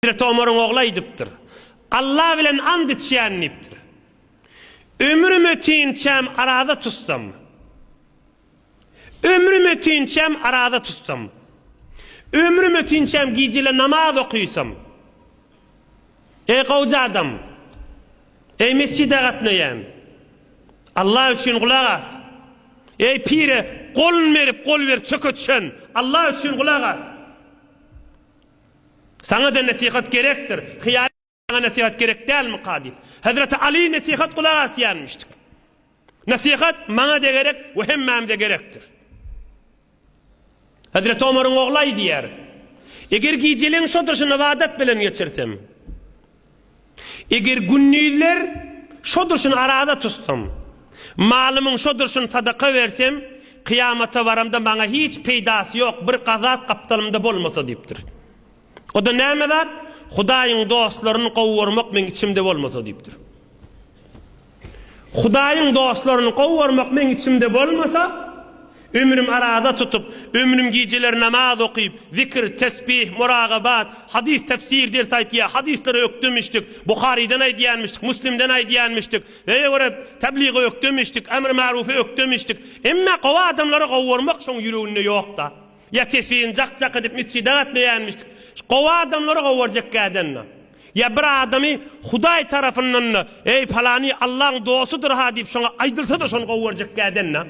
Hezreti Omaryň ogly aýdypdyr. Alla bilen ant içýän diýipdir. Ömrüm ötinçäm araza tutsam. Ömrüm ötinçäm araza tutsam. Ömrüm ötinçäm gijele namaz okyysam. Eý gowja adam. Eý mesjide gatnaýan. Alla üçin gulak as. Eý pire golun berip gol berip çöke düşen. Alla üçin gulak as. Saňa-da nesihat gerekdir. Hyýaly Saňa nesihat gerek dälmika? diýip, hezreti Aly nesihat gulak asýanmyşdyk. Nesihat maňa-da gerek we hemmämize gerekdir. Hezreti Omaryň ogly aýdýar, Eger gijeleň şo durşuny ybadat bilen geçirsem, Eger gündizler şo durşun araza tutsam, malymyň şo durşun sadaka bersem, kyýamata baramda maňa hiç peýdasy ýok, bir gazap gapdalymda bolmasa diýipdir. O-da näme zat? Hudaýyň dostlaryny gowy görmek meň içimde bolmasa diýipdir. Hudaýyň dostlaryny gowarmak meň içimde bolmasa, ömrüm araza tutup, ömrüm gijeler namaz okyp, zikr, tesbih, muragabat, hadys tefsir ders aýtýa, hadyslary ökdemişdik, Buharydan aýdýanmyşdyk, Müslimden aýdýanmyşdyk, öýe görä tebligy ökdemişdik, emr-marufy ökdemişdik, emma gowy adamlary gowarmak şoň ýüreginde ýokda. Ýa tesbini jak-jak edip metjide gatnaýanmyşdyk. Şu gowy adamlary gowarjak kädända. Ýa bir adamy Hudaý tarapyndan-da, Eý, palany Allaň dostudyr-ha diýip şoňa aýdylsa-da şony gowarjak kädända.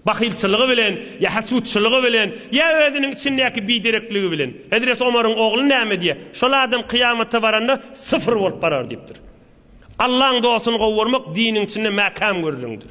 Bahylçylygy bilen, ýa hasutçylygy bilen, ýa özüniň içindäki biderekligi bilen. Hezreti Omaryň ogly näme diýýär? Şol adam kyýamata baranda syfyr bolup barar diýipdir. Allaň dostuny gowarmak diniň içinde mäkäm gürrüňdir.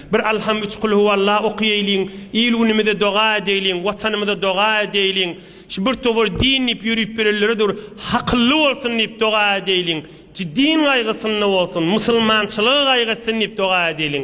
Bir Alham üç Kulhuwalla okaýaýliň, il-günümize doga edäýliň, Watanymyza doga edäýliň, şu bir towar din diýip ýörüp bilenlere dur hakylly bolsun diýip doga edäýliň, ci din gaýgysynda bolsun, musulmançylygy gaýgy etsin diýip doga edäýliň.